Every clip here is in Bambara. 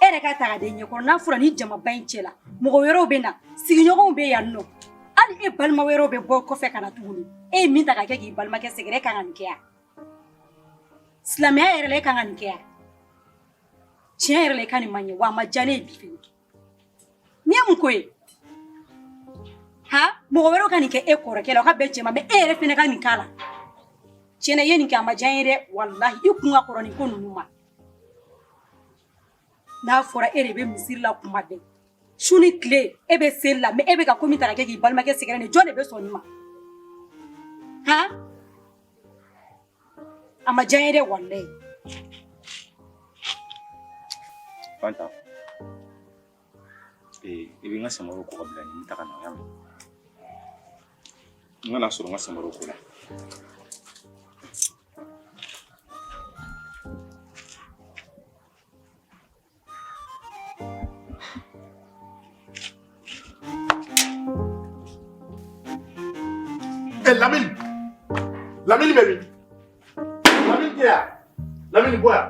e yɛrɛ ka taga den ɲɛkɔrɔ n'a fɔra nin jamaba in cɛla mɔgɔ wɛrɛw bɛ na sigiɲɔgɔnw bɛ yan nɔ hali e balima wɛrɛw bɛ bɔ kɔfɛ ka na tuguni e ye min ta ka kɛ k'i balimakɛ sɛgɛrɛ e kan ka nin kɛ yan silamɛya yɛrɛ la e kan ka nin kɛ yan tiɲɛ yɛrɛ la i ka nin man ɲɛ wa a ma diya ne ye bi fini n'i ye mun ko ye ha mɔgɔ wɛrɛw ka nin kɛ e kɔrɔkɛ la o ka bɛn cɛ ma mɛ e yɛrɛ fɛnɛ ka nin k'a la tiɲɛ na i ye nin kɛ a ma diya n ye dɛ walahi i kun ka kɔrɔ nin ko ninnu ma n'a fɔra e de bɛ misiri la kuma bɛɛ su ni tile e bɛ seli la mɛ e bɛ ka ko min ta ka kɛ k'i balimakɛ sɛgɛrɛ nin jɔn de bɛ sɔn nin ma han a ma diya n ye dɛ walayi Fanta Ee i bɛ n ka samaraw ko ka bila n ye n bɛ taa ka na o y'a mɛn n kana sɔrɔ n ka samaraw ko la Lamini Lamini bɛ min Lamini ya. Lamini bɔ yan.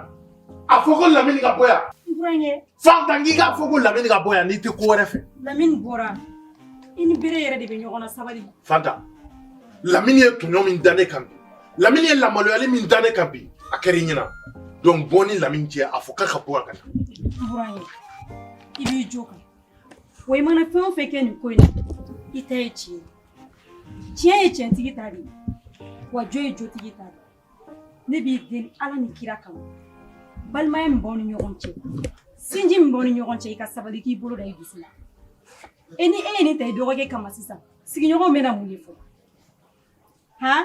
A fɔ ko Lamini ka bɔ yan. N burankɛ. Fanta n k'i k'a fɔ ko Lamini ka bɔ yan n'i tɛ ko wɛrɛ fɛ. Lamini bɔra. I ni bere yɛrɛ de bɛ ɲɔgɔn na sabali. Fanta. Lamini ye tɔɲɔ min da ne kan bi. Lamini ye lamaloyali min da ne kan bi. A kɛra i ɲɛna. Donc bɔ n ni Lamini cɛ a fɔ k'a ka bɔ a ka na. N burankɛ. I b'i jo kan. Wa i mana fɛn o fɛn kɛ nin ko in na i ta ye tiɲɛ ye. tiɲɛ ye tiɲɛtigi ta de ye wa jo ye jotigi ta de ye ne b'i deli ala ni kira kama balimaya min b'aw ni ɲɔgɔn cɛ sinji min b'aw ni ɲɔgɔn cɛ i ka sabali k'i bolo da i dusu la e ni e ye nin ta i dɔgɔkɛ kama sisan sigiɲɔgɔnw bɛna mun de fɔ han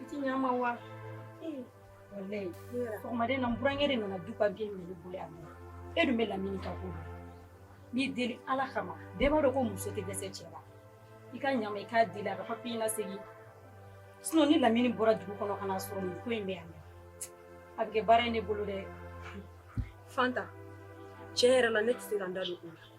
I tɛ ɲɛ n ma wa walayi sɔgɔmada in na n burankɛ de nana du papiye minɛ n bolo yan e dun bɛ lamini ka ko n b'i deli ala kama bɛɛ b'a dɔn ko muso tɛ dɛsɛ cɛ la i ka ɲɛ n ma i k'a deli a ka papiye lasegin sinɔn ni lamini bɔra dugu kɔnɔ ka n'a sɔrɔ nin ko in bɛ yan a bɛ kɛ baara ye ne bolo dɛ fanta tiɲɛ yɛrɛ la ne tɛ se ka n da don o la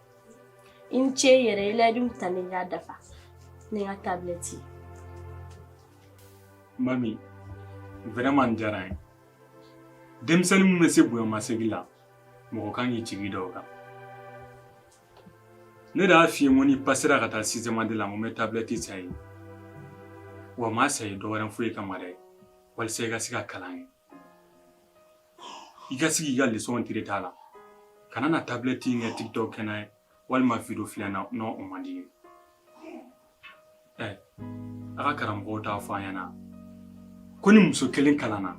i ni ce yɛrɛ i layidu ta n ye i y'a dafa ne ka tabilɛti mami vraiment nin diyara n ye denmisɛnnin min bɛ se bonyamasegin la mɔgɔ kan k'i jigi da o kan ne de y'a f'i ye n ko n'i pasera ka taa sixième année la n ko n bɛ tabilɛti san i ye wa n m'a san i ye dɔ wɛrɛ foyi kama dɛ walisa i ka se ka kalan kɛ i ka sigi i ka leçon traiter a la kana na tablette in kɛ tiktok kɛnan ye walima video filɛnan n'o o man di ye ɛ a ka karamɔgɔw t'a fɔ a ɲɛna ko ni muso kelen kalanna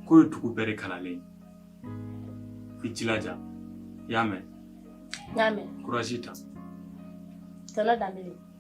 k'o ye dugu bɛɛ de kalannen i jilaja i y'a mɛn n y'a mɛn courage ta tonton danbele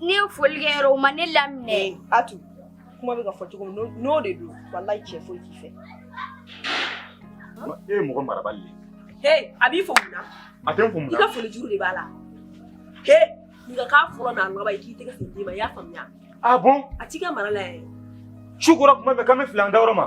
Ne ye foli kɛ yɔrɔ o ma ne laminɛ ee a tun kuma bɛ ka fɔ cogo min n'o de don walayi cɛ foyi t'i fɛ e ye mɔgɔ marabali ye he a b'i fo mun na a tɛ n fo mun na i ka foli juru de b'a la he nka k'a fɔlɔ n'a laban i k'i tɛgɛ fila d'i ma i y'a faamuya ah bon a t'i ka mara la yɛrɛ su kora kuma bɛ k'an bɛɛ fili an dayɔrɔ ma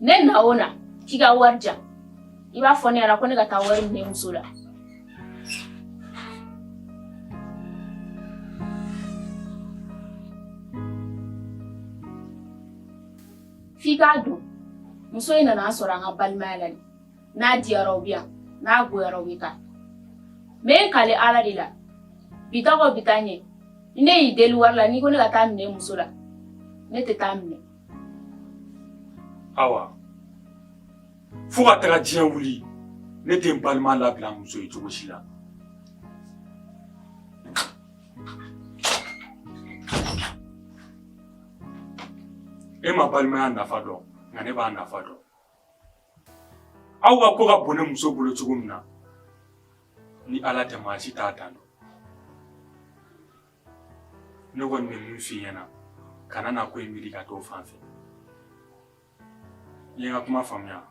ne na o na k'i ka wari di yan i b'a fɔ ne yɛrɛ ko ne ka taa wari minɛ muso la f'i k'a dɔn muso in nana an sɔrɔ an ka balimaya la de n'a diyara o bɛ yan n'a goyara o bɛ taa n bɛ n kali ala de la bi ta kɔ bi ta ɲɛ ni ne y'i deli wari la n'i ko ne ka taa minɛ muso la ne tɛ taa minɛ awa fo ka taga diɲɛ wuli ne tɛ n balima labila muso ye cogo si la e ma balimaya nafa dɔn nka ne b'a nafa dɔn aw ka ko ka bon ne muso bolo cogo min na ni ala tɛ maa si t'a dan dɔn ne kɔni bɛ min f'i ɲɛna kana na ko in miiri ka t'o fan fɛ i ye n ka kuma faamuya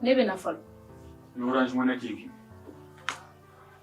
ne bɛ na fɔlɔ ni orange money k'i kun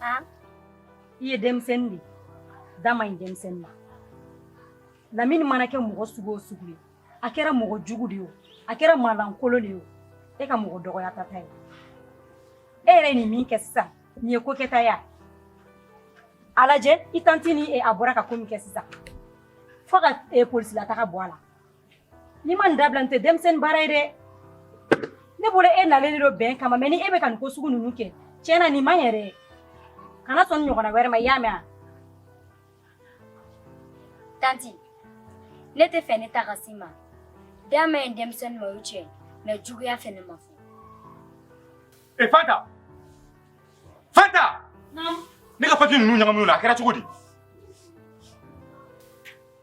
ah i ye denmisɛnnin de ye da man ɲi denmisɛnnin ma lamini mana kɛ mɔgɔ sugu o sugu ye a kɛra mɔgɔ jugu de ye o a kɛra maalankolon de ye o e ka mɔgɔ dɔgɔyata t'a ye e yɛrɛ ye nin min kɛ sisan nin ye ko kɛta ye a a lajɛ i tanti ni e a bɔra ka ko min kɛ sisan fo ka e polisilataga bɔ a la N'i ma nin dabila nin tɛ denmisɛnnin baara ye dɛ ne bolo e nalen de don bɛn kama mais ni e bɛ ka nin ko sugu ninnu kɛ tiɲɛ na nin ma ɲɛ dɛ kana sɔn nin ɲɔgɔnna wɛrɛ ma i y'a mɛn a tanti ne t'a fɛ ne da ka s'i ma da man ɲi denmisɛnnin ma o ye tiɲɛ ye mais juguya fɛ ne m'a fɔ e fanta fanta ne ka papiye ninnu ɲagamina a kɛra cogo di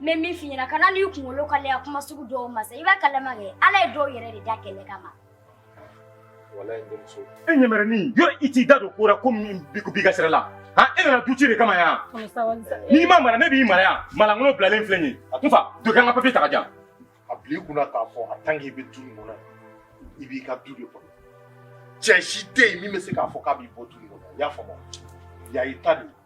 n bɛ min f'i ɲɛna kana n'i kunkolo kalaya kuma sugu dɔw ma sa i b'a kalama kɛ ala ye dɔw yɛrɛ de da kɛlɛ kama walayi n denmuso e ɲɛmɛrɛnin yɔrɔ i t'i da don ko la ko min b'i ka sira la han e nana duci de kama yan n'i ma mara ne b'i mara yan malangolo bilalen filɛ nin ye a tun fa dɔ kɛ an ka papiye ta ka jan a bila i kunna k'a fɔ a tan k'i bɛ du nin kɔnɔ i b'i ka du de kɔnɔ cɛ si tɛ yen min bɛ se k'a fɔ k'a b'i bɔ du nin kɔnɔ i y'a faamuya i ta de ye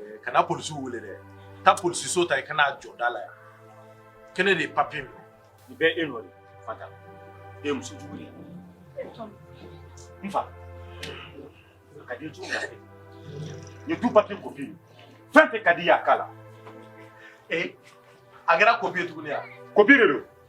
Eh, kana polisi wele dɛ taa polisiso ta i kana jɔ da la yan ko ne de ye papiye minɛ i bɛ e nɔ de fata e muso jugu ye n fa a ka di cogo min na ye du papiye kopi ye fɛn o fɛn ka d'i ye a k'a la ee a kɛra kopi ye tuguni yan kopi de don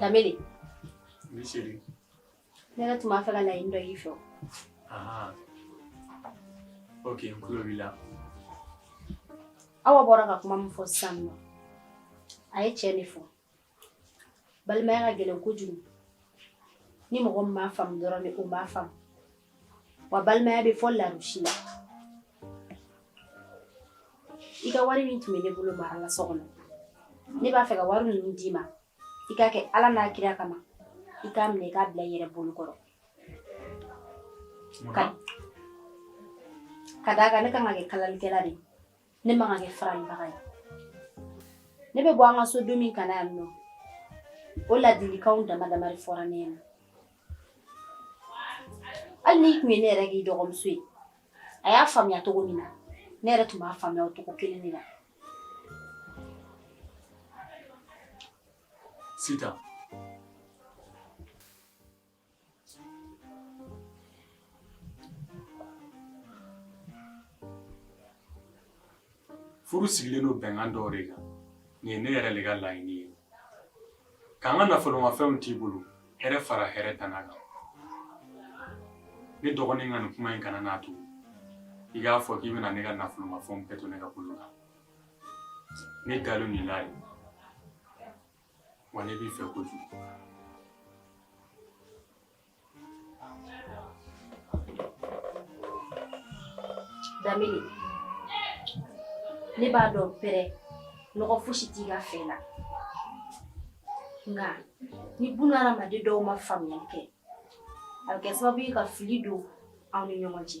Damini. Ne seri. Ne yɛrɛ tun b'a fɛ ka laɲini dɔ k'i fɛ. Ahan. Ok n tulo b'i la. Awa bɔra ka kuma min fɔ sisan nɔ, a ye tiɲɛ de fɔ. Balimaya ka gɛlɛn kojugu. Ni mɔgɔ min m'a faamu dɔrɔn de, o m'a faamu. wa balimaya bɛ fo larusi la i ka wari min tun bɛ ne bolo mara la so kɔnɔ ne b'a fɛ ka wari ninnu d'i ma i k'a kɛ ala n'a kira kama i k'a minɛ i k'a bila i yɛrɛ bolo kɔrɔ ka d'a kan ne ka kan ka kɛ kalalikɛla de ye ne man ka kɛ faralibaga ye ne bɛ bɔ an ka so don min ka na yan nɔ o ladilikanw dama dama de fɔra ne ɲɛna hali n'i tun ye ne yɛrɛ k'i dɔgɔmuso ye a y'a faamuya cogo min na ne yɛrɛ tun b'a faamuya o cogo kelen de la sitan furu sigilen don bɛnkan dɔw de kan nin ye ne yɛrɛ de ka laɲini ye ka n ka nafolomafɛnw t'i bolo hɛrɛ fara hɛrɛ tana kan ne dɔgɔnin ka nin kuma in kana n'a to i k'a fɔ k'i bɛna ne ka nafolomafɛnw bɛɛ to ne ka bolo kan ne dalen nin la ye wa ne b'i fɛ kojugu. Damini ne b'a dɔn pɛrɛ nɔgɔ fosi t'i ka fɛn na nka ni bunadamaden dɔw ma faamuyali kɛ a bɛ kɛ sababu ye ka fili don aw ni ɲɔgɔn cɛ